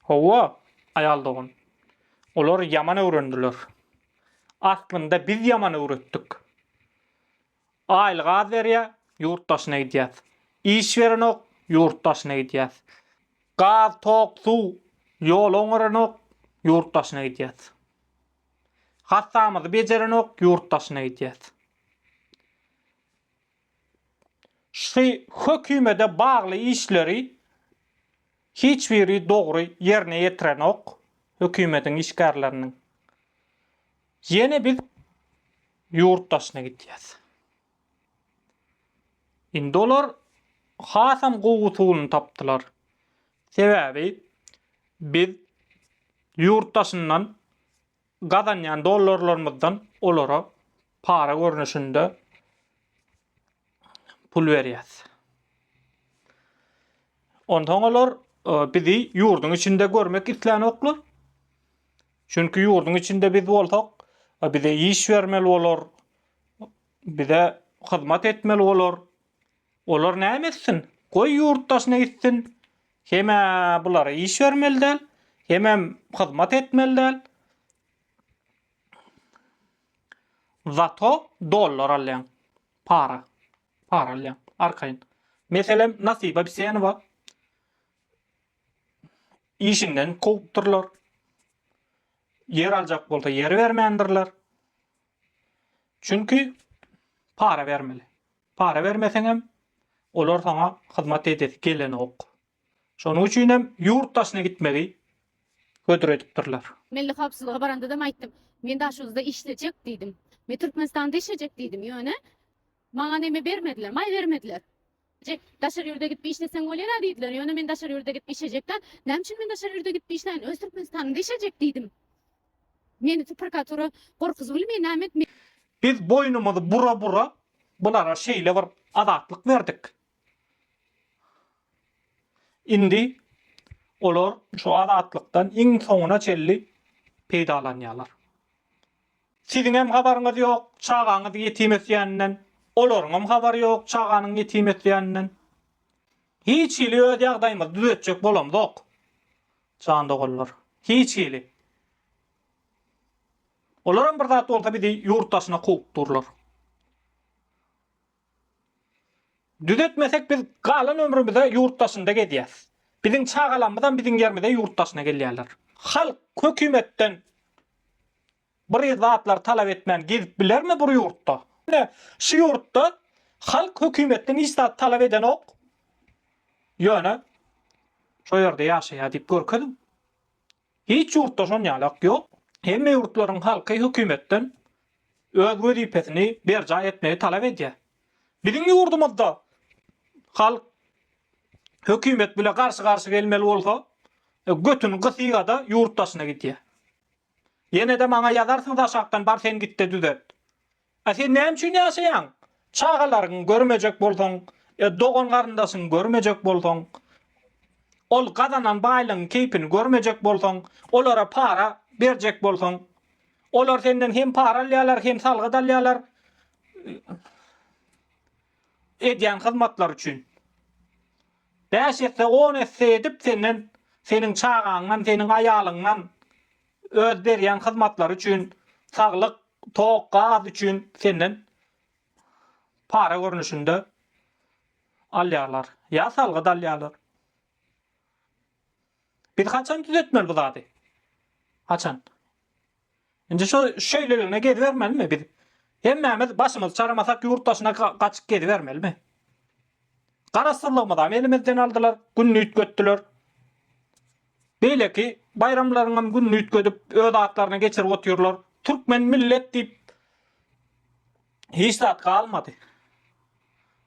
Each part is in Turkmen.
Hawa, aýal dogan. Olar ýaman öwrendiler. Aslynda biz ýaman öwretdik. Aýlyk az berýär, ýurt daşyna gidýäs. Iş berenok, ýurt daşyna gidýäs. Gaz, tok, suw, ýol oňaranok, ýurt daşyna gidýäs. Hasamyzy bejerenok, ýurt daşyna gidýäs. Şu hökümede bagly işleri hiç biri dogry ýerine ýetirenok hökümediň işgärleriniň. Ýene biz ýurt daşyna gidýäs. Indi olar hasam gowy usulyny tapdylar. Sebäbi biz ýurt daşyndan gazanýan dollarlarymyzdan olara para görnüşinde pul berýäs. Ondan olar e, bizi ýurduň içinde görmek isleýänoklar. Çünki ýurduň içinde biz bolsak, e, bize iş bermeli bolar, bize hyzmat etmeli bolar. Olar näme etsin? Goý ýurt daşyna gitsin. Hem-ä bulara iş bermeli däl, hemem hyzmat etmeli däl. Zato dollar alýaň. Para. Para alýaň. Arkaýyn. Meselem, Nasiba Bisenowa işinden kowupdyrlar. Ýer aljak bolsa ýer bermändirler. Çünki para bermeli. Para bermeseňem, olar saňa hyzmat edesi gelenok. Şonuň üçinem ýurt daşyna gitmegi hödür edipdirler. Milli howpsuzlyga barandadam aýtdym. Men Daşoguzda işlejek diýdim. Men Türkmenistanda işlejek diýdim. Ýöne maňa neme bermediler, maý bermediler. Jek, daşary ýurda gidip işleseň bolýar-a diýdiler. Ýöne men daşary ýurda gidip işlejek däl. Näme üçin men daşary ýurda gidip işläýin? Öz Türkmenistanymda işlejek diýdim. Meni tu prkatura gorkuzulymy name etme. Biz boýnumyzy bura bura bulara şeýle bir azatlyk berdik. Indi olar şu azatlykdan iň soňuna çelli peýdalanýarlar. Siziňem habaryňyz ýok, çagaňyz ýetim ösýäninden, olaryňam habary ýok, çaganyň ýetim ösýäninden. Hiç hili öz ýagdaýymyzy düzetjek bolamzok. Jan doganlar. Hiç hili. Olaram bir zat bolsa bizi ýurt daşyna kowup durlar. Düzetmesek biz galan ömrümize ýurt daşynda gezýäs. Biziň çagalamyzam biziň ýerimize ýurt daşyna gelýärler. Halk hökümetden Bir zatlar talap etmän gezip bilermi bir ýurtda? Ine, şu ýurtda halk hökümetden hiç zat talap edenok. Ýöne şo ýerde ýaşaýar diýip görkeziň. Hiç ýurtda şon ýalak ýok. Hemme ýurtlaryň halky hökümetden öz wezipesini berjaý etmegi talap edýär. Biziň ýurdumyzda halk hökümet bile garşy-garşy gelmeli bolsa, götüni gysýa-da ýurt daşyna gidýär. Ýenede maňa ýazarsyňda aşakdan bar sen gitde düzet. A sen näme üçin ýaşaýaň? Çagalaryňy görmejek bolsaň, dogan garyndaşyňy görmejek bolsaň, ol gazanan baýlygyň keýpini görmejek bolsaň, olara para berjek bolsaň. Olar senden hem para alýarlar, hem salgyt alýarlar edýän hyzmatlary üçin. Bäş esse, on esse edip senden, seniň çagaňdan, seniň aýalyňdan öz berýän hyzmatlary üçin, saglyk, tok, gaz üçin senden para görnüşinde alýarlar. Ýa salgyt alýarlar. Biz haçan düzetmeli bu zady? Haçan? Indi şu şeýleligine gezibermelimi biz? Hemmämiz başymyzy çaramasak ýurt daşyna gaçyp gezibermelimi? Garaşsyzlygymyzam elimizden aldylar, gününi üýtgetdiler. Beýleki baýramlaryňam gününi üýtgedip, öz atlaryna geçirip otyrlar. Türkmen millet diýip hiç zat galmady.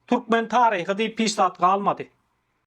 Türkmen taryhy diýip hiç zat galmady.